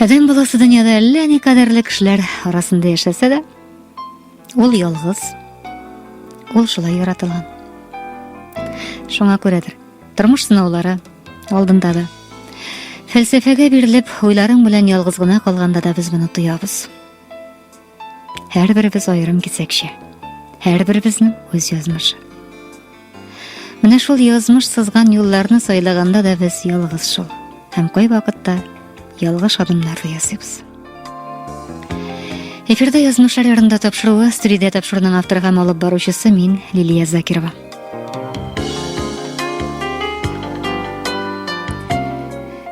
Адәм баласы дөньяда әллә ни кадәрле кешеләр арасында яшәсә дә, ул ялгыз, ул шулай яратылган. Шуңа күрәдер, тормыш сынаулары алдында да. Фәлсәфәгә бирелеп, уйларың белән ялгыз гына калганда да без моны тоябыз. Һәрберебез аерым кисәкчә. Һәрберебезнең үз язмышы. Менә шул язмыш сызган юлларны сайлаганда да без ялгыз шул. Һәм кай вакытта ялгыш адымнар ясыйбыз. Эфирда язмышлар ярында тапшыруы, студиядә тапшыруның авторы һәм алып баручысы мин Лилия Закирова.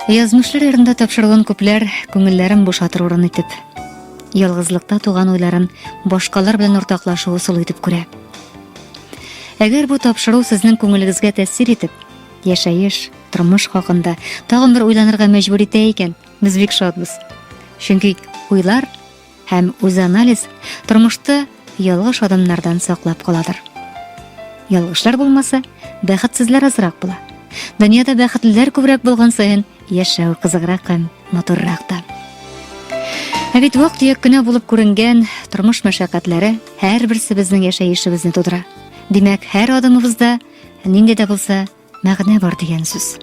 Язмышлар ярында тапшыруын күпләр күңелләрен бушатыр урын итеп ялгызлыкта туган уйларын башкалар белән уртаклашу ысулы итеп күрә. Әгәр бу тапшыру сезнең күңелегезгә тәэсир итеп, яшәеш, тормыш хакында тагын бер уйланырга мәҗбүр итә икән, без бик шатбыз. Чөнки уйлар һәм үзанализ тормышта Ялгыш адымнардан саклап каладыр. Ялгышлар булмаса, бәхетсезләр азрак була. Дөньяда бәхетлеләр күбрәк булган саен, яшәү кызыграк һәм матуррак та. Ә бит вак төяк кенә булып күренгән тормыш мәшәкатьләре һәрберсе безнең яшәешебезне тудыра. Димәк, һәр адымыбызда нинди дә булса Мәгънә бар дигән сүз.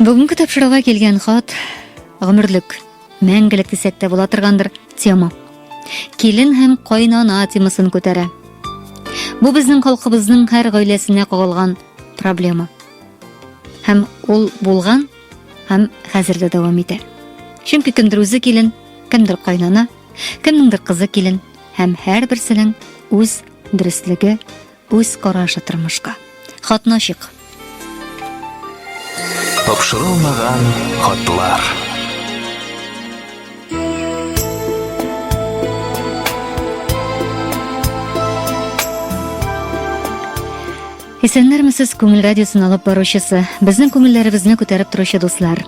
Бүгенге тапшыруга килгән хат гомерлек, мәңгелек дисәк тә була торгандыр тема. Килен һәм кайнана темасын күтәрә. Бу безнең халкыбызның һәр гаиләсенә кагылган проблема. Һәм ул булган һәм хәзер дә дәвам итә. Чөнки кемдер үзе килен, кемдер кайнана, кемнеңдер кызы килен, Һәм һәрберсенең үз дөреслеге, үз карашы тормышка. Хатны ачык. Тапшырылмаган хатлар. Исәннәрмесез, Күңел радиосын алып баручысы, безнең күңелләребезне күтәреп торучы дуслар.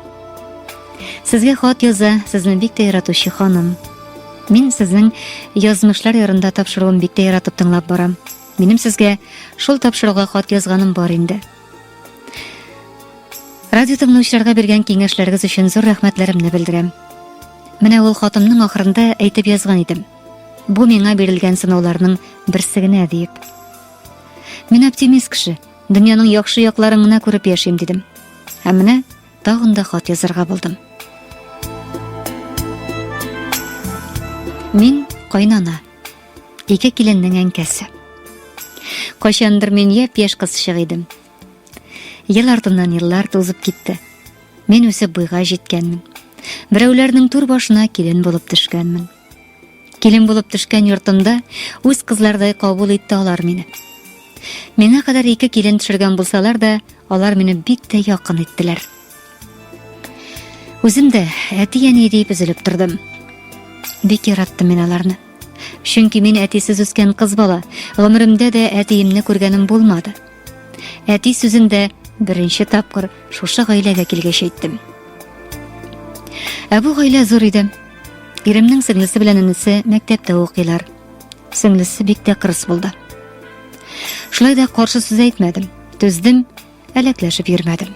Сезгә хат яза, сезне бик тә яратучы ханым. Мин сезнең язмышлар ярында тапшыруын бик тә яратып тыңлап барам. Минем сезгә шул тапшыруга хат язганым бар инде. Радио тыңлаучыларга биргән киңәшләрегез өчен зур рәхмәтләремне белдерәм. Менә ул хатымның ахырында әйтеп язган идем. Бу миңа бирелгән сынауларның берсе генә диеп. Мин оптимист кеше. Дөньяның яхшы якларын гына күреп яшим дидем. Һәм менә Тагын да хат язарга булдым. Мин кайнана. Ике киленнең әнкәсе. Кайчандыр мин я пеш кызчык идем. Ел артыннан еллар тузып китте. Мин үсеп буйга җиткәнмен. Берәүләрнең тур башына килен булып төшкәнмен. Килен булып төшкән йортымда үз кызлардай кабул итте алар мине. Миңа кадәр ике килен төшергән булсалар да, алар мине бик тә якын иттеләр. Үзем дә әти-әни дип үзелеп тордым. Бик яраттым мин аларны. Чөнки мин әтисез үскән кыз бала, гомеремдә дә әтиемне күргәнем булмады. Әти сүзен дә беренче тапкыр шушы гаиләгә килгәч әйттем. Ә бу гаилә зур иде. Иремнең сеңлесе белән энесе мәктәптә укыйлар. Сеңлесе бик тә кырыс булды. Шулай да каршы сүз әйтмәдем. Түздем, әләкләшеп йөрмәдем.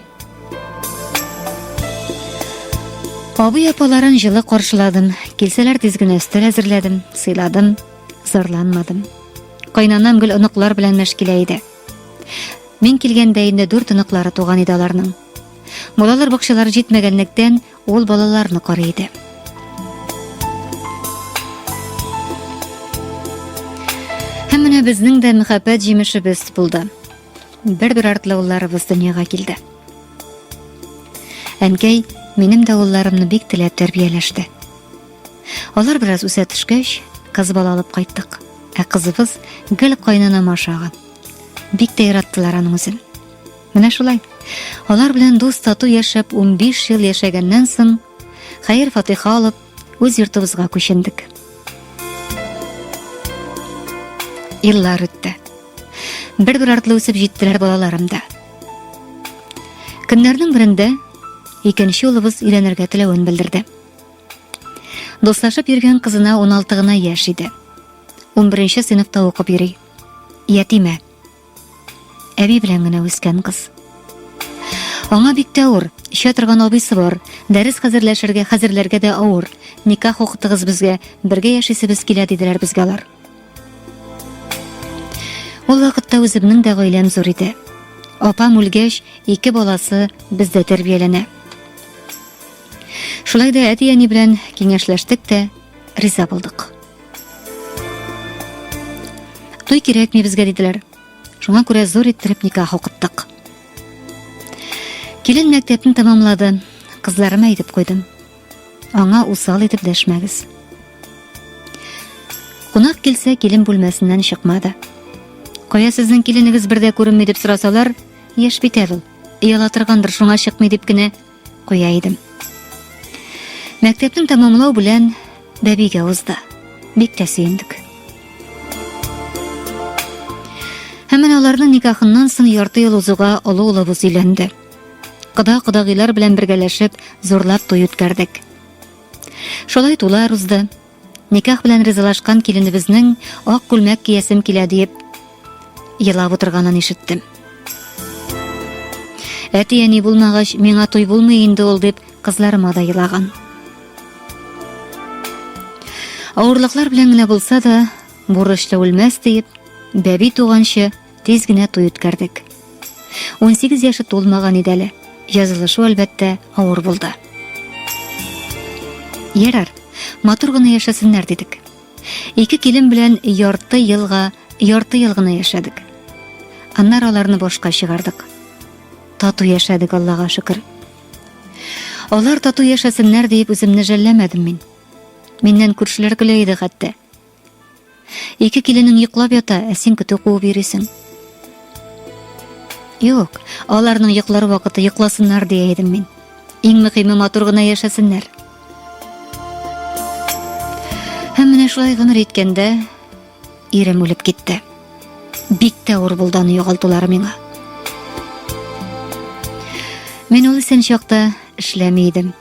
Абый апаларын җылы каршыладым. Килсәләр тиз генә өстәл әзерләдем, сыйладым, зарланмадым. Кайнанам гел оныклар белән мәшкилә иде. Мин килгәндә инде дүрт оныклары туган иде аларның. Балалар бакчалары җитмәгәнлектән, ул балаларны карый иде. Һәм менә безнең дә мәхәббәт җимешебез булды. Бер-бер артлы улларыбыз дөньяга килде. Әнкәй минем дә улларымны бик теләп тәрбияләште. Алар бераз үсә төшкәч, кыз бала алып кайттык. Ә кызыбыз гел кайнанам ашаган. Бик тә яраттылар аның үзен. Менә шулай. Алар белән дус тату яшәп 15 ел яшәгәннән соң, хәер фатиха алып, үз йортыбызга күчендек. Еллар үтте. Бер-бер артлы үсеп җиттеләр балаларым да. Көннәрнең берендә икенче улыбыз өйләнергә теләвен белдерде. Дуслашып йөргән кызына 16 гына яшь иде. 11 сыйныфта укып йөри. Ятимә. Әби белән генә үскән кыз. Аңа бик тә авыр. Эчә торган абыйсы бар. Дәрес хәзерләшергә, хәзерләргә дә авыр. Никах укытыгыз безгә, бергә яшисебез килә диделәр безгә алар. Ул вакытта үземнең дә гаиләм зур иде. Апам үлгәч, ике баласы бездә тәрбияләнә. Шулай да әти-әни белән киңәшләштек тә, риза булдык. Туй кирәкми безгә диделәр. Шуңа күрә зур иттереп никах укыттык. Килен мәктәпне тәмамлады. Кызларыма әйтеп куйдым. Аңа усал итеп дәшмәгез. Кунак килсә, килен бүлмәсеннән чыкмады. Кая сезнең киленегез бердә күренми дип сорасалар, яшь бит әле ул. Ялатыргандыр, шуңа чыкмый дип кенә куя идем. Мәктәпнең тәмамлау белән бәбигә узды. Бик тә сөендек. Һәм менә аларның никахыннан соң ярты ел узуга олы улыбыз өйләнде. Кыда кодагыйлар белән бергәләшеп, зурлап туй үткәрдек. Шулай тулар узды. Никах белән ризалашкан киленебезнең ак күлмәк киясем килә диеп елап утырганын ишеттем. Әти-әни булмагач, миңа туй булмый инде ул дип, кызларыма да елаган. Авырлыклар белән генә булса да, бурычлы үлмәс диеп, бәби туганчы Тиз генә туй үткәрдек. 18 яше тулмаган иде әле. Язылышу, әлбәттә, авыр булды. Ярар, матур гына яшәсеннәр дидек. Ике килен белән ярты елга, ярты ел гына яшәдек. Аннар аларны башка чыгардык. Тату яшәдек, Аллага шөкер. Алар тату яшәсеннәр диеп үземне жәлләмәдем мин. Миннән күршеләр көлә иде хәтта. Ике киленең йоклап ята, ә син көтү куып йөрисең. Юк, аларның йоклар вакыты йокласыннар дия идем мин. Иң мөһиме матур гына яшәсеннәр. Һәм менә шулай гомер иткәндә ирем үлеп китте. Бик тә авыр булды аны югалтулары миңа. Мин ул исән чакта эшләми идем.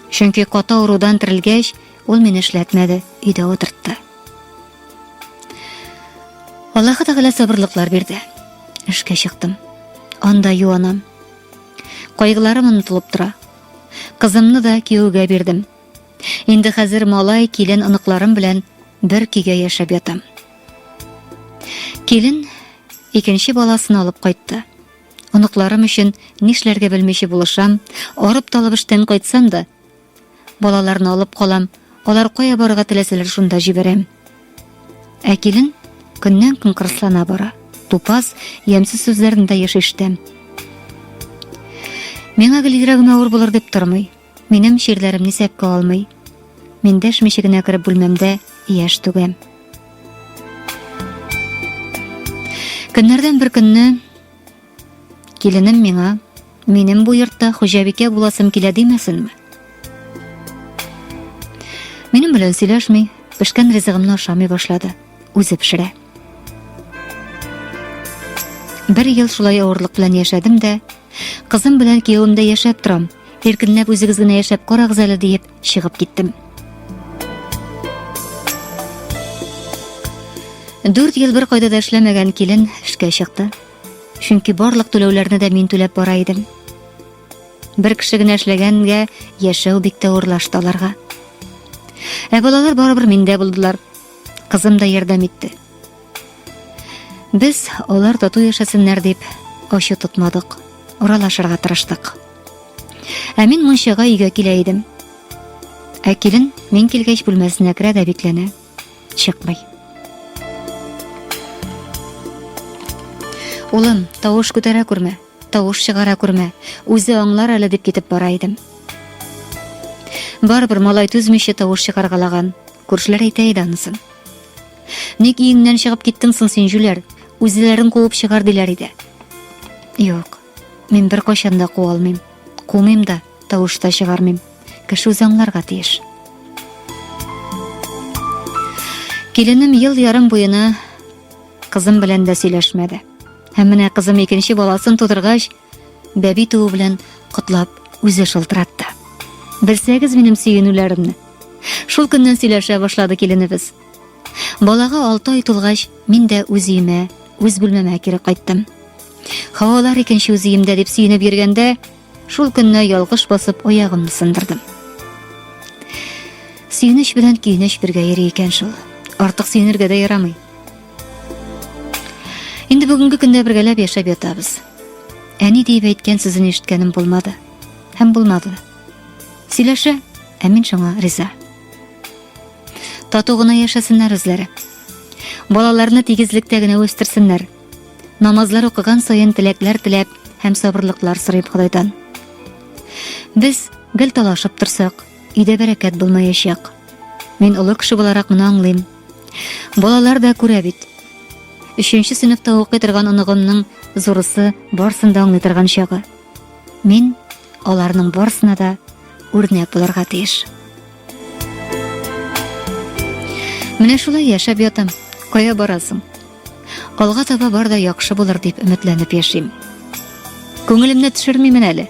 Чөнки каты авырудан терелгәч, Ул мине эшләтмәде, өйдә утыртты. Аллаһы Тәгалә сабырлыклар бирде. Эшкә чыктым. Анда юанам. Кайгыларым онытылып тора. Кызымны да кияүгә бирдем. Инде хәзер малай, килен, оныкларым белән бер көйгә яшәп ятам. Килен икенче баласын алып кайтты. Оныкларым өчен нишләргә белмичә булышам, арып-талып эштән кайтсам да, Балаларны алып калам. Алар кая барырга теләсәләр шунда җибәрәм. Ә килен көннән көн кырыслана бара. Тупас, ямьсез сүзләрендә еш ишетәм. Миңа гел йөрәгемә авыр булыр дип тормый. Минем ширләремне сәпкә алмый. Мин дәшмичә генә кереп бүлмәмдә яшь түгәм. Көннәрдән бер көнне Киленем миңа, минем бу йортта хуҗабикә буласым килә димәсенме? Минем белән сөйләшми, пешкән ризыгымны ашамый башлады. Үзе пешерә. Бер ел шулай авырлык белән яшәдем дә, кызым белән киявемдә яшәп торам. Иркенләп үзегез генә яшәп карагыз әле диеп чыгып киттем. Дүрт ел бер кайда да эшләмәгән килен эшкә чыкты. Чөнки барлык түләүләрне дә мин түләп бара идем. Бер кеше генә эшләгәнгә яшәү бик тә урлашты аларга. Ә балалар барыбер миндә булдылар. Кызым да ярдәм итте. Без алар тату яшәсеннәр дип ачу тотмадык. Уралашырга тырыштык. Ә мин мончага өйгә килә идем. Ә килен мин килгәч бүлмәсенә керә дә бикләнә. чыкмый. Улым, тавыш күтәрә күрмә, тавыш чыгара күрмә, үзе аңлар әле дип китеп бара идем. Барыбер малай түзмичә тавыш чыгаргалаган. Күршеләр әйтә иде анысын. Ник иңнән чыгып киттең соң син, җүләр? Үзләрен куып чыгар диләр иде. Юк, мин бер кайчан да куа алмыйм. Кумыйм да. Тавыш та чыгармыйм. Кеше үзе аңларга тиеш. Киленем ел ярым буена кызым белән дә сөйләшмәде. Һәм менә кызым икенче баласын тудыргач, бәби туу белән котлап үзе шылтыратты. Белсәгез минем сөенүләремне. Шул көннән сөйләшә башлады киленебез. Балага алты ай тулгач, мин дә үз өемә, үз бүлмәмә кире кайттым. Хавалар икенче үз өемдә дип сөенеп йөргәндә, Шул көнне ялгыш басып аягымны сындырдым. Сөенеч белән көенеч бергә йөри икән шул. Артык сөенергә дә ярамый. Инде бүгенге көндә бергәләп яшәп ятабыз. Әни диеп әйткән сүзен ишеткәнем булмады. Һәм булмады. Сөйләшә, ә мин шуңа риза. Тату гына яшәсеннәр үзләре. Балаларны тигезлектә генә үстерсеннәр. Намазлар укыган саен теләкләр теләп һәм сабырлыклар сорыйм Ходайдан. Без гел талашып торсак, өйдә бәрәкәт булмаячак. Мин олы кеше буларак моны аңлыйм. Балалар да күрә бит. Өченче сыйныфта укый торган оныгымның зурысы барсын да аңлый торган чагы. Мин аларның барсына да үрнәк булырга тиеш. Менә шулай яшәп ятам. Кая барасың? Алга таба бар да яхшы булыр дип өметләнеп яшим. Күңелемне төшермимен әле.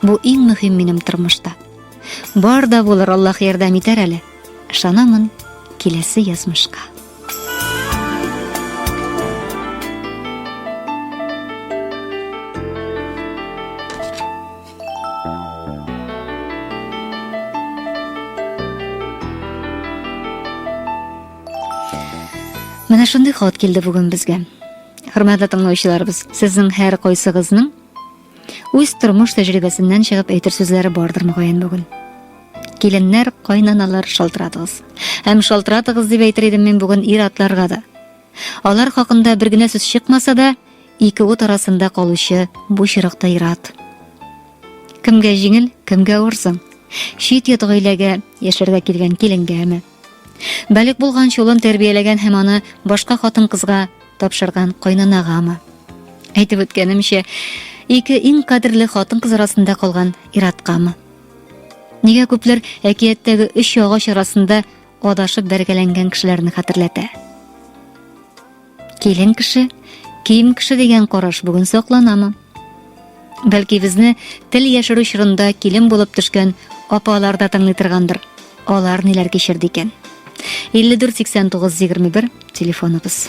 Бу иң мөһим минем тормышта. Бар да булыр, Аллаһ ярдәм итәр әле. Ышанамын киләсе язмышка. Менә шундый хат килде бүген безгә. Хөрмәтле тыңлаучыларыбыз, сезнең һәр кайсыгызның үз тормыш тәҗрибәсеннән чыгып әйтер сүзләре бардыр мөгаен бүген. Киленнәр, кайнаналар шалтыратыгыз. Һәм шалтыратыгыз дип әйтер идем мин бүген ир-атларга да. Алар хакында бер генә сүз чыкмаса да, ике ут арасында калучы бу чирыкта ират. Кемгә җиңел, кемгә авырсың? Чит йот гаиләгә яшәргә килгән киленгәме? Балик булган чулын тәрбияләгән һәм аны башка хатын-кызга тапшырган кайнанагамы? Әйтеп үткәнемчә, ике иң кадерле хатын-кыз арасында калган ираткамы? Нигә күпләр әкияттәге өч агач арасында адашып бәргәләнгән кешеләрне хәтерләтә? Килен кеше, кием кеше дигән караш бүген сакланамы? Бәлки безне тел яшерү чорында килен булып төшкән апалар да тыңлый торгандыр. Алар ниләр кичерде икән? 548921 телефоныбыз.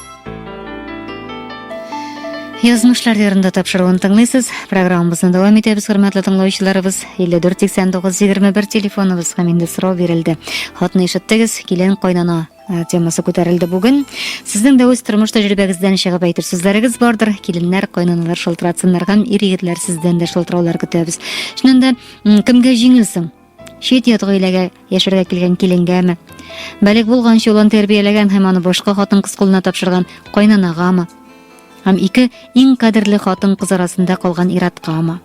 Язмышлар ярында тапшыруын тыңлыйсыз. Программабызны дәвам итәбез, хөрмәтле тыңлаучыларыбыз. 548921 телефоныбыз һәм инде сорау бирелде. Хатны ишеттегез, килен кайнана э, темасы күтәрелде бүген. Сезнең дә үз тормыш тәҗрибәгездән чыгып әйтер сүзләрегез бардыр. Киленнәр, кайнаналар шалтыратсыннар һәм ир-егетләр сездән дә шалтыраулар көтәбез. Шуннан да кемгә җиңелсең? Чит-ят гаиләгә яшәргә килгән киленгәме? Бәлек булганчы улын тәрбияләгән һәм аны башка хатын-кыз кулына тапшырган кайнанагамы? Һәм ике иң кадерле хатын-кыз арасында калган ираткамы?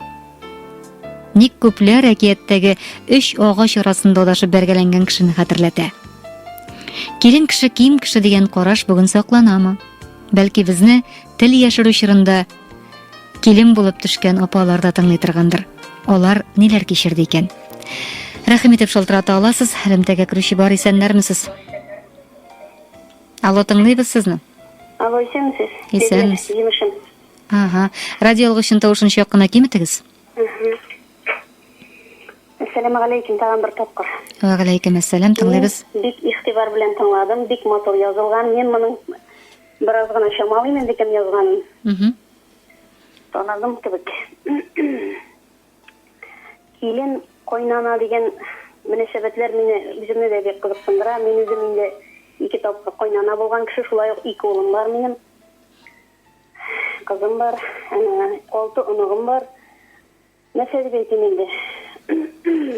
Ник күпләр әкияттәге өч агач арасында адашып бәргәләнгән кешене хәтерләтә? Килен кеше ким кеше дигән караш бүген сакланамы? Бәлки безне тел яшерү чорында Килен булып төшкән апалар да тыңлый торгандыр. Алар ниләр кичерде икән? Рәхим итеп шалтырата аласыз, элемтәгә керүче бар исәннәрмесез? Алло, тыңлыйбыз сезне. Алло, исәнмесез? Исәнмез. Җимешем. Ага. Радио алгычын тавышын чак кына киметегез. Әссәламу алейкум, тагын бер тапкыр. Ва алейкум әссәлам, тыңлыйбыз. Бик игътибар белән тыңладым, бик матур язылган. Мин моның Бераз гына чамалыйм инде кем язганын. Мхм. Таныдым кебек. Килен, кайнана дигән мөнәсәбәтләр мине үземне дә бик кызыксындыра. Мин үзем инде ике тапкыр кайнана булган кеше, шулай ук ике улым бар минем. Кызым бар, алты оныгым бар. Нәрсә дип әйтим инде.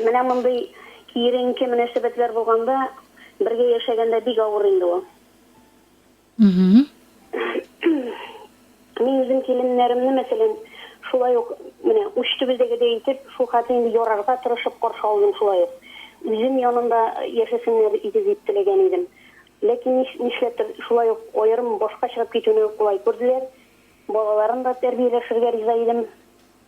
Менә мондый киеренке мөнәсәбәтләр булганда, бергә яшәгәндә бик авыр инде ул. Мин үзем киленнәремне, мәсәлән, шулай ук, менә уч төбедәгедәй итеп, шул хәтле инде ярарга тырышып каршы алдым шулай ук. Үзем янында яшәсеннәр иде дип теләгән идем. Ләкин нишләптер, шулай ук аерым башка чыгып китүне кулай күрделәр. Балаларын да тәрбияләшергә риза идем.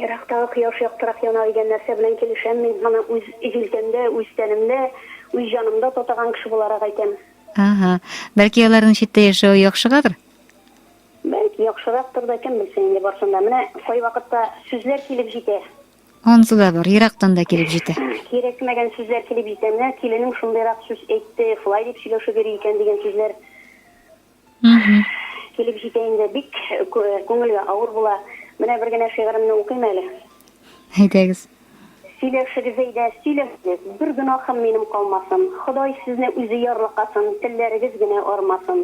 Ерактагы кояш яктырак яна дигән нәрсә белән килешәм мин. Моны үз җилкәмдә, үз тәнемдә, үз җанымда татыган кеше буларак әйтәм. Аһа. Бәлки аларның читтә яшәве яхшыгадыр? Бәлки яхшырактыр да, кем белсен инде барсын да. Менә кайвакытта сүзләр килеп җитә. Ансы да бар, ерактан да килеп җитә. Кирәкмәгән сүзләр килеп җитә. Менә киленем шундыйрак сүз әйтте, шулай дип сөйләшеп йөри икән дигән сүзләр. Килеп җитә инде, бик күңелгә авыр була. Менә бер генә шигыремне укыйм әле. Әйдәгез. Сөйләшегез, Зәйдә, сөйләшегез, Бер гөнаһым минем калмасын, Ходай сезне үзе ярлыкасын, Телләрегез генә арымасын.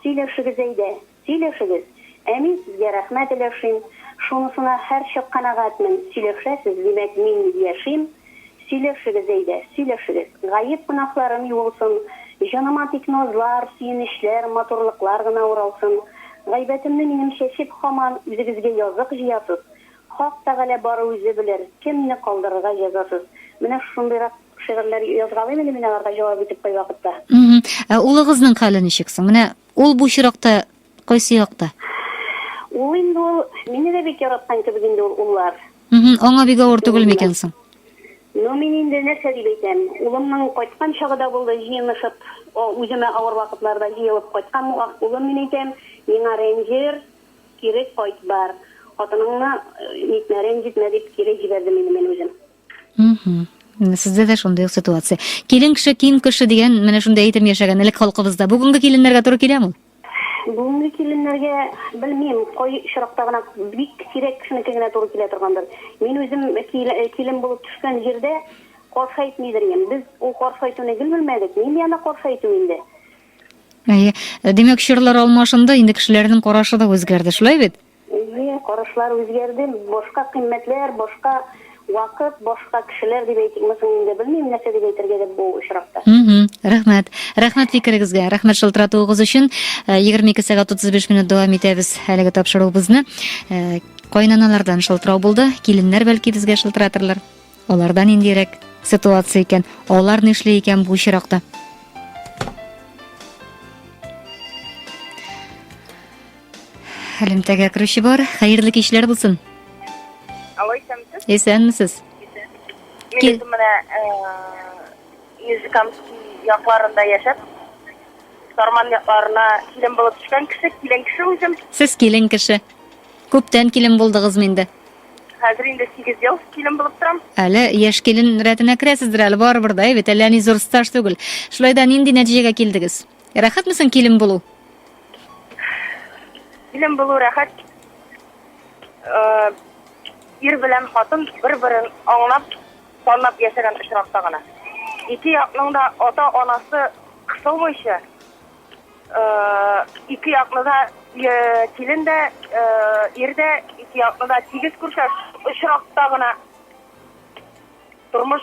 Сөйләшегез, Зәйдә, сөйләшегез, Ә мин сезгә рәхмәт өләшим, Шунысына һәрчак канәгатьмен, Сөйләшәсез, димәк, мин яшим. Сөйләшегез, әйдә, сөйләшегез. Гаеп гөнаһларым юылсын, Җаныма тик назлар, сөенечләр, матурлыклар гына уралсын. Гайбәтемне минем чәчеп, хаман Үзегезгә язык җыясыз. Хак Тәгалә бары үзе белер, Кемне калдырырга җәзасыз. Менә шундыйрак шигырьләр язгалыйм әле мин аларга җавап итеп кайвакытта. Ә улыгызның хәле ничек соң? Менә ул бу очракта Кайсы якта? Ул инде ул, мине дә бик яраткан кебек инде ул уллар. Мхм, аңа бик авыр түгел микән соң? Ну, мин инде нәрсә дип әйтәм, улымның кайткан чагы да булды, җыенышып, үземә авыр вакытларда җыелып кайткан булган, улым, мин әйтәм, миңа рәнҗер, кире кайт бар, хатыныңны нитмә, рәнҗетмә, дип кире җибәрде мине мин үзем. Сездә дә шундый ук ситуация. Килен кеше, кин кеше дигән менә шундый әйтем яшәгән элек халкыбызда. Бүгенге киленнәргә туры киләме ул? Бүгенге киленнәргә белмим, кой очракта гына бик сирәк кешенеке генә туры килә торгандыр. Мин үзем килен булып төшкән җирдә каршы әйтмидер идем. Без ул каршы әйтүне гел белмәдек. Мин яна каршы әйтү инде. Әйе. Димәк, чорлар алмашынды, инде кешеләрнең карашы да үзгәрде, шулай бит? Әйе, карашлар үзгәрде, башка кыйммәтләр, башка вакыт, башка кешеләр дип әйтикме соң инде, белмим, нәрсә дип әйтергә дә бу очракта. Мһм, рәхмәт. Рәхмәт фикерегезгә, рәхмәт шылтыратуыгыз өчен. Э, егерме ике сәгать утыз биш минут дәвам итәбез әлеге тапшыруыбызны. Э, кайнаналардан шылтырау булды, киленнәр бәлки безгә шылтыратырлар. Аларда ниндирәк ситуация икән, алар нишли икән бу очракта? Элемтәгә керүче бар. Хәерле кичләр булсын. Алло, исәнмесез? Исәнмесез. Мин үзем менә Нижекамский якларында яшәп, Сарман якларына килен булып төшкән кеше, килен кеше үзем. Сез килен кеше. Күптән килен булдыгызмы инде? Хәзер инде 8 ел килен булып торам. Әле яшь килен рәтенә керәсездер әле барыбер дә, бит әллә ни зур стаж түгел. Шулай да нинди нәтиҗәгә килдегез? Рәхәтме соң килен булу? Килен булу рәхәт. Э, ир белән хатын бер-берен аңлап, танып яшәгән очракта гына. Ике якның да ата-анасы кысылмыйча, э, ике якны да э, килен дә, ир дә ике якны да тигез күрсәт очракта гына тормыш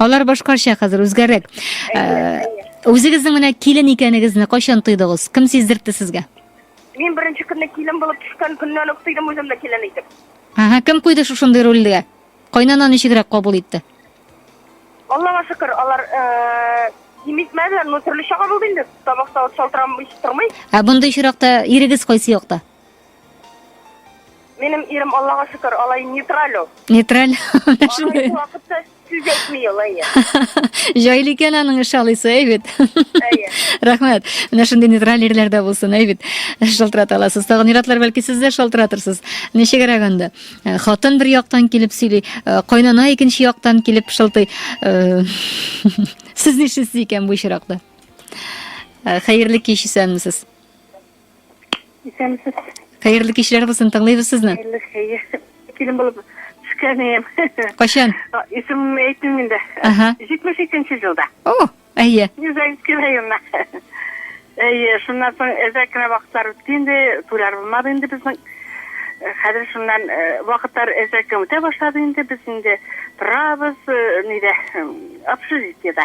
Алар башкача хәзер үзгәрәк. Э, Үзегезнең менә килен икәнегезне кайчан тойдыгыз? Кем сиздертте сезгә? Мин беренче көнне килен булып төшкән көннән үк тойдым үземне килен итеп. Ага, кем куйды шушындый рольгә? Кайнана ничегрәк кабул итте? Аллага шөкер, алар э, кимитмәделәр, но төрлечә кабул инде. Табакта ут шалтырамый тормый. Ә мондый очракта ирегез кайсы якта? Минем ирем, Аллага шөкер, алай нейтраль ул. Нейтраль. Менә шундый. Алай вакытта сүз әйтми ул, әйе. Җайлы икән аның эш алысы, әй бит. Әйе. Рәхмәт. Менә шундый нейтраль ирләр дә булсын, әй бит. Шалтырата аласыз. Тагын иратлар бәлки сез дә шалтыратырсыз. Ничегрәк анда? Э, хатын бер яктан килеп сөйли, э, кайнана икенче яктан килеп шылтый. Э, сез нишлисез икән бу очракта? Хәерле кич исәнмесез. Исәнмесез. Хәерле кичләр булсын, тыңлыйбыз сезне. Хәерле хәер. Килен булып төшкәнем. Кайчан? Исем әйтмим инде. Ага. 72-нче елда. О, әйе. Юзәйский районына. Әйе, шуннан соң әзрәк кенә вакытлар үтте инде, туйлар булмады инде безнең. Э, хәзер шуннан э, вакытлар әзрәк үтә башлады инде, без инде торабыз, э, нидә, общежитиедә.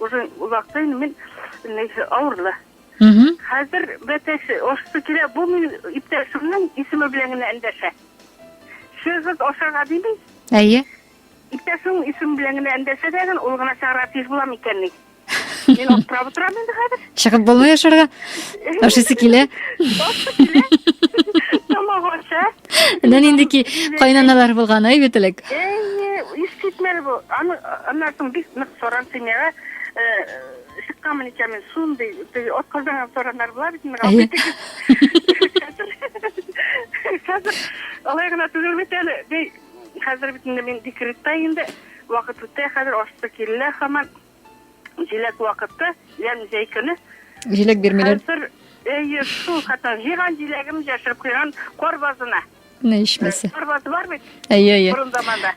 Уже озакта инде мин инде авырлы. Хәзер бәтәш ашыйсы килә, бу мин иптәшемнең исеме белән генә эндәшә. Чыгып ашарга дими. Әйе. Иптәшемнең исеме белән генә эндәшә дә, ул гына чыгарга тиеш була микәнни? Мин аптырап утырам инде хәзер. Чыгып булмый ашарга. Ашыйсы килә. Тамак аша. Менә нинди ки кайнаналар булган, әй бит элек. Искитмәле бу. Аны аннан соң бик нык соран семьяга чыкканмын икән мин шундый теге атказанган сораннар була бит инде хәзер алай гына түгел бит әле хәзер бит инде мин декретта инде вакыт үтә хәзер ашты килә хаман Җиләк вакыты, ямь җәй көне. Җиләк бирмиләр. Хәзер, әйе, шул хәтта җыйган җиләгем яшереп куйган кар базына. Менә ишмәсе. Кар базы бар бит. Әйе, әйе. Борын заманда.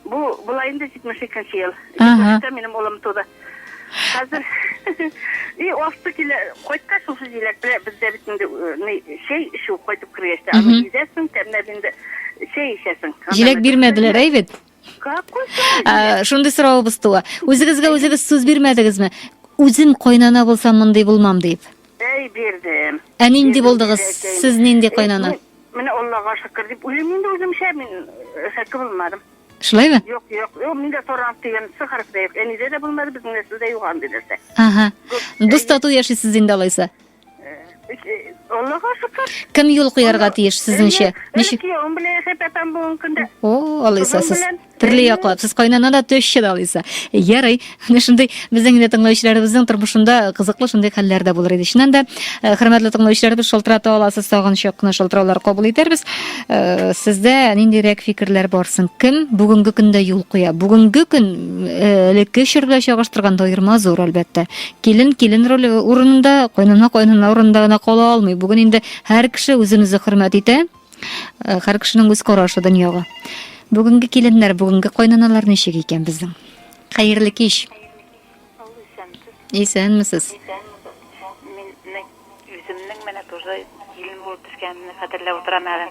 Бу була инде 72 ел. 72 минем улым туды. Хәзер и асты килә. Кайтка шушы җиләк белә бездә бит инде чәй эчү кайтып кергәч тә. Аны изәсең, тәмләп инде чәй эчәсең. Җиләк бирмәделәр, әй бит. Ә, Шундый соравыбыз туа. Үзегезгә үзегез сүз бирмәдегезме? Үзем кайнана булсам мондый булмам дип. Әй, бирдем. Ә нинди булдыгыз? Сез нинди кайнана? Э, Менә Аллага шөкер дип уйлыйм инде үземчә, мин э, шәке булмадым. Шулаймы? Юк, юк, юк, миндә торан дигән сы хәреф тә юк. Әнидә дә булмады, безнең нәселдә юк андый нәрсә. Ага. Дус тату яшисез инде алайса. Аллага шөкер. Кем юл куярга тиеш сезнеңчә? Ничек? Киявем белән яшәп ятам бүгенге көндә. О, алайса сез төрле яклап, сез кайнана да төшче дә алайса. Ярый, менә шундый безнең инде тыңлаучыларыбызның тормышында кызыклы шундый хәлләр дә булыр иде. Чыннан да, э, хөрмәтле тыңлаучыларыбыз, шалтырата аласыз, тагын чакны шалтыраулар кабул итәрбез. Э, сездә ниндирәк фикерләр бар соң? Кем бүгенге көндә юл куя? Бүгенге көн э, элекке чор белән чагыштырганда аерма зур, әлбәттә. Килен килен роле урынында, кайнана кайнана урынында гына кала алмый. Бүген инде һәр кеше үзен-үзе хөрмәт итә. Э, һәр кешенең үз карашы дөньяга. Бүгенге киленнәр, бүгенге кайнаналар ничек икән безнең? Хәерле кич. Исәнмесез. Мин үземнең менә тоже килен булып төшкәнемне хәтерләп утырам әле.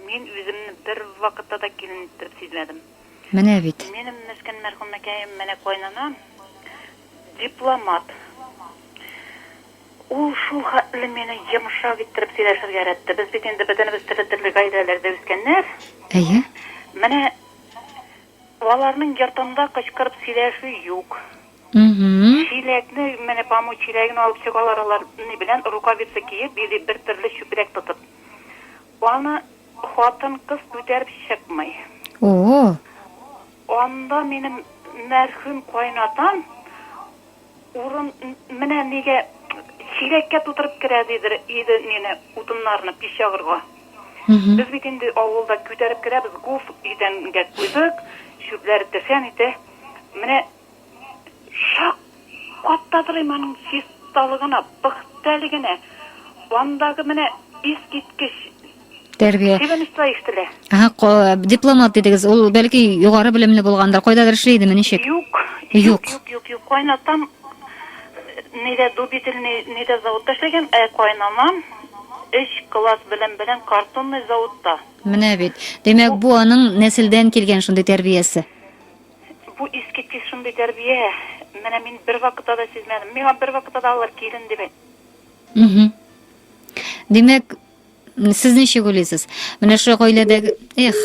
Мин үземне бер вакытта да килен итеп сизмәдем. Менә бит. Минем мескен мәрхүмәкәем менә кайнанам дипломат. Ул шул хәтле мине йомшак иттереп сөйләшергә өйрәтте. Без бит инде бөтенебез төрле-төрле гаиләләрдә үскәннәр. Әйе. Менә аларның йортында кычкырып сөйләшү юк. Чиләкне, менә паму чиләген алып чыгалар алар ни белән, рукавица киеп или бер төрле чүпрәк тотып. Аны Хатын кыз күтәреп чыкмый. О-о-о! Анда минем мәрхүм кайнатам урын менә нигә чиләккә тутырып керә дидер иде мине утыннарны пич ягырга. Без бит инде авылда күтәреп керәбез, гуф идәнгә куйдык, чүпләр тешән итә. Менә чак каттадыр им аның чисталыгына, пөхтәлегенә, андагы менә искиткеч Тәрбия. Чебенечлар ишетелә. Ага, ко- дипломат дидегез. Ул бәлки югары белемле булгандыр. Кайдадыр эшли идеме, ничек? Юк, Юк. юк, юк, юк, юк. Кайнатам ни дә дубительный, ни дә заводта эшләгән, ә кайнанам өч класс белем белән картонный заводта. Менә бит. Димәк, бу аның нәселдән килгән шундый тәрбиясе. Бу искиткеч шундый тәрбия, менә мин бервакытта да сизмәдем. Миңа бервакытта да алар килен дип әйтмәде. Мгм. Димәк, сез ничек уйлыйсыз? Менә шул гаиләдәге, эх,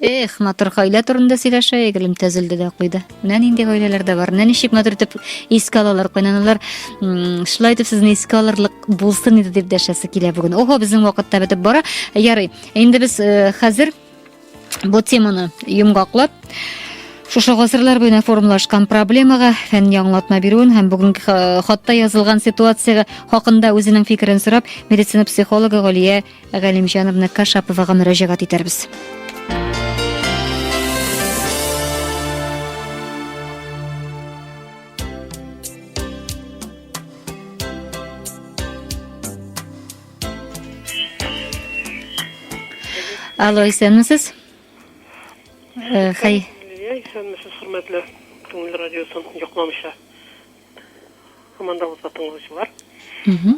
эх, матур гаилә турында сөйләшәйек, гөлем төзелде дә куйды. Менә нинди гаиләләр дә бар. Менә ничек матур итеп искә алалар кайнаналар. М, Шулай итеп сезне искә алырлык булсын иде дип дәшәсе килә бүген. Ого, безнең вакытта бетеп бара. Ярый. Инде без э, хәзер Бу теманы йомгаклап, шушы гасырлар буена формалашкан проблемага фәнни аңлатма бирүен һәм бүгенге э, хатта язылган ситуация хакында үзенең фикерен сорап, медицина психологы Галия Галимҗановна Кашаповага мөрәҗәгать итәрбез. Алло, исәнмесез? Э, хәй. Исәнмесез, хөрмәтле Күңел радиосын яклаучы. Командабызга тыңлаучылар. Угу.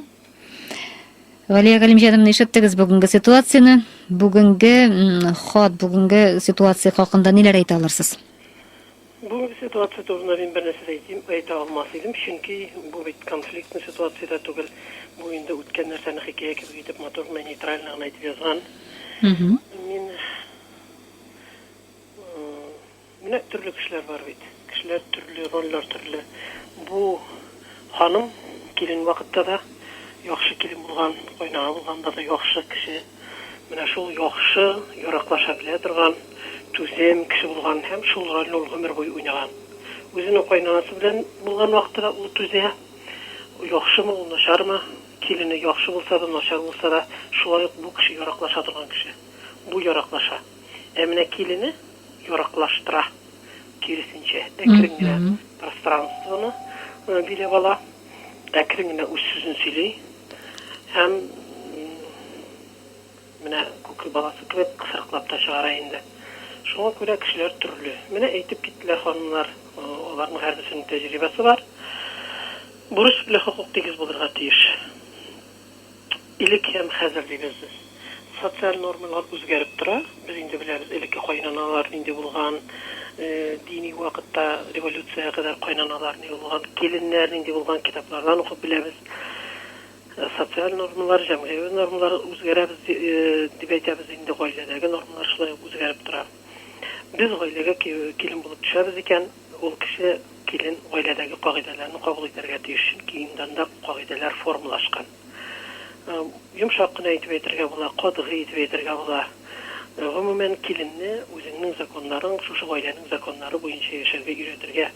Валия Галимҗаным, ишеттегез бүгенге ситуацияне. Бүгенге ход, бүгенге ситуация хакында ниләр әйтә алырсыз? Бүгенге ситуация турында мин бернәрсә дә әйтим, әйтә алмас идем, чөнки бу бит конфликтный ситуация дә түгел, бу инде үткән нәрсәне хикәя кебек итеп матур гына нейтрально гына итеп язган. Мин менә төрле кешеләр бар бит, кешеләр төрле, рольләр төрле. Бу ханым килен вакытта да яхшы килен булган, кайнага булганда да яхшы кеше. Менә шул яхшы, яраклаша белә торган, түзем кеше булган һәм шул рольне ул гомер буе уйнаган. Үзенең каенанасы белән булган вакыты да ул түзә. Яхшымы ул, начармы, килене яхшы булса да, начар булса да, шулай ук бу кеше яраклаша торган кеше. Бу яраклаша. Ә менә килене яраклаштыра, киресенчә, әкрен генә пространствоны биләп ала. Әкрен генә үз сүзен сөйли һәм менә күке баласы кебек кысрыклап та чыгара инде. Шуңа күрә кешеләр төрле. Менә әйтеп киттеләр ханымнар, аларның һәрберсенең тәҗрибәсе бар. Бурыч белән хокук тигез булырга тиеш. Элек һәм хәзер дибез без. Социаль нормалар үзгәреп тора. Без инде беләбез, элекке кайнаналар нинди булган, дини вакытта революциягә кадәр кайнаналар ни булган, киленнәр нинди булган, китаплардан укып беләбез. Социаль нормалар, җәмгыяви нормалар үзгәрәбез ди, дип әйтәбез инде, гаиләдәге нормалар шулай ук үзгәреп тора. Без гаиләгә килен булып төшәбез икән, Ул кеше, килен, гаиләдәге кагыйдәләрне кабул итәргә тиеш, чөнки инде анда кагыйдәләр формалашкан. Йомшак кына итеп әйтергә була, катгый итеп әйтергә була. Гомумән, киленне үзеңнең законнарың, шушы гаиләнең законнары буенча яшәргә өйрәтергә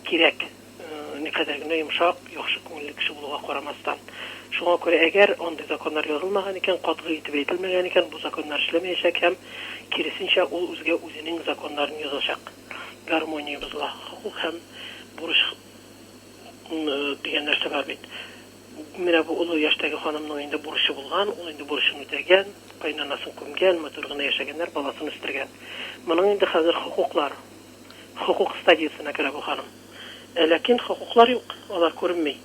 кирәк, никадәр генә йомшак, яхшы күңелле кеше булуга карамастан. Шуңа күрә, әгәр андый законнар язылмаган икән, катгый итеп әйтелмәгән икән, бу законнар эшләмәячәк һәм, киресенчә, ул үзгә үзенең законнарын язачак. гармония бозыла, хокук һәм бурыч дигән нәрсә бар бит. Менә бу олы яшьтәге ханымның инде бурычы булган, ул инде бурычын үтәгән, кайнанасын күмгән, матур гына яшәгәннәр, баласын үстергән. Моның инде хәзер хокуклар, хокук стадиясенә керә бу ханым. Ә ләкин хокуклар юк, алар күренми.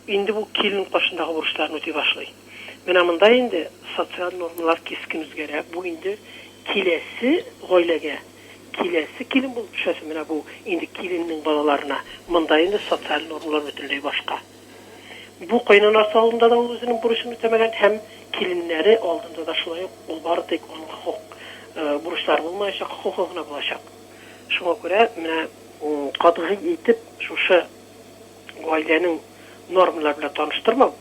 Инде бу килен каршындагы бурычларын үти башлый. Менә монда инде социаль нормалар кискен үзгәрә, бу инде киләсе гаиләгә, киләсе килен булып төшәсе менә бу инде киленнең балаларына, монда инде социаль нормалар бөтенләй башка. Бу кайнанасы алдында да ул үзенең бурычын үтәмәгән һәм киленнәре алдында да шулай ук ул бары тик аның хокук бурычлары булмаячак, хокукы гына булачак. Шуңа күрә менә катгый итеп шушы. гаиләнең нормалары белән таныштырмау,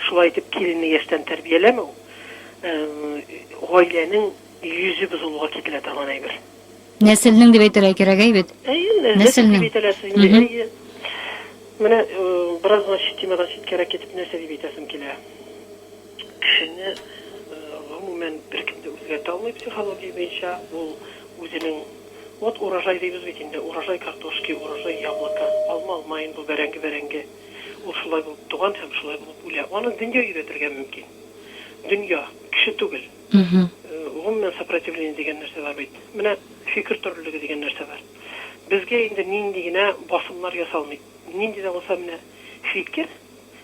шулай итеп киленне яшьтән тәрбияләмәү гаиләнең йөзе бозылуга китерә торган әйбер. Нәселнең дип әйтергә кирәк, әй бит. Нәселнең. Дип әйтәләсез инде. Әйе. Менә бераз гына темадан читкәрәк китеп нәрсә дип әйтәсем килә. Кешене, гомумән, беркем дә үзгәртә алмый психология буенча. Ул үзенең, вот урожай дибез бит инде, урожай картошки, урожай яблока, алма алма инде ул, бәрәңге бәрәңге. Ул шулай булып туган һәм шулай булып үлә. Аны дөнья өйрәтергә мөмкин. Дөнья, кеше түгел. Гомумән, сопротивление дигән нәрсә бар бит. Менә фикер төрлелеге дигән нәрсә бар. Безгә инде нинди генә басымнар ясалмый. Нинди дә булса менә фикер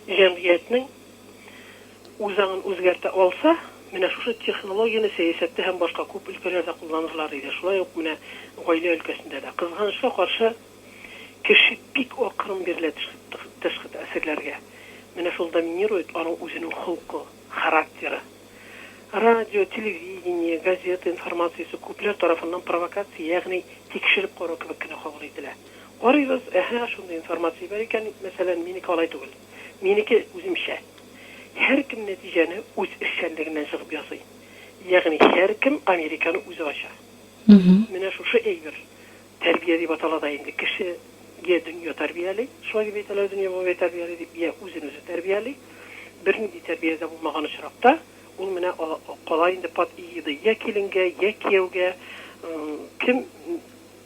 җәмгыятьнең үз аңын үзгәртә алса, менә шушы технологияне сәясәттә һәм башка күп өлкәләрдә кулланырлар иде. Шулай ук менә гаилә өлкәсендә дә. Кызганычка каршы, кеше бик акрын бирелә тышкы тәэсирләргә. Менә шул доминирует аның үзенең холкы, характеры. Радио, телевидение, газета информациясе күпләр тарафыннан провокация, ягъни тикшереп карау кебек кенә кабул ителә. Карыйбыз, әһә, шундый информация бар икән, мәсәлән, минеке алай түгел. Минеке, үземчә. Һәркем нәтиҗәне үз эшчәнлегеннән чыгып ясый. Ягъни һәркем Американы үзе ача. Менә шушы әйбер, тәрбия дип атала да инде, кеше йә дөнья тәрбияли, шулай дип әйтәләр, дөнья бабай тәрбияли дип, йә үзен-үзе тәрбияли. Бернинди тәрбия дә булмаган очракта, ул менә кала инде под эгидой йә киленгә, йә кияүгә, кем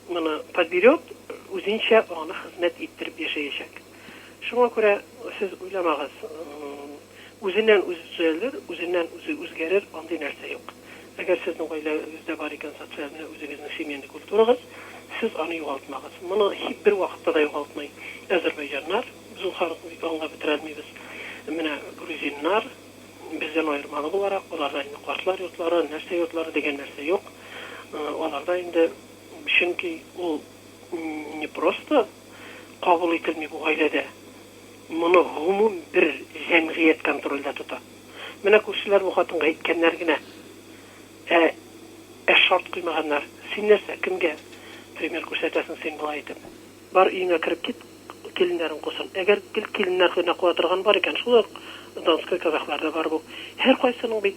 моны подберет, үзенчә аны хезмәт иттереп яшәячәк. Шуңа күрә сез уйламагыз, үзеннән үзе төзәлер, үзеннән үзе үзгәрер, андый нәрсә юк. Әгәр сезнең гаиләгездә бар икән социаль менә үзегезнең семейный культурагыз, сез аны югалтмагыз. Моны һич бер вакытта да югалтмый әзербайҗаннар, без ул халыкны бит аңлап бетерә алмыйбыз. Менә грузиннар, бездән аермалы буларак, аларда инде картлар йортлары, нәрсә йортлары дигән нәрсә юк. Аларда инде чөнки ул не просто кабул ителми бу гаиләдә. Моны гомум бер җәмгыять контрольдә тота. Менә күршеләр бу хатынга әйткәннәр генә, ә ә шарт куймаганнар. Син нәрсә, кемгә пример күрсәтәсең син болай итеп? Бар, өеңә кереп кит, киленнәрең кусын. Әгәр гел киленнәр генә куа торган бар икән, шул ук донской казахларда бар бу. Һәркайсының бит.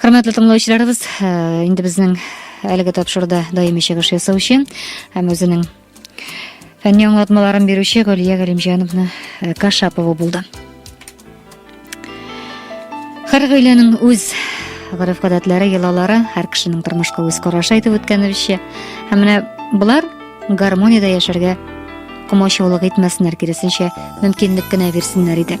Хөрмәтле тыңлаучыларыбыз, э, инде безнең әлеге тапшыруда даими чыгыш ясаучы һәм үзенең фәнни аңлатмаларын бирүче Гөлия Галимҗановна э, Кашапова булды. Һәр гаиләнең үз гореф-гадәтләре, йолалары, һәр кешенең тормышка үз карашы әйтеп үткәнебезчә, һәм менә болар гармониядә яшәргә комачаулык итмәсеннәр, киресенчә, мөмкинлек кенә бирсеннәр иде.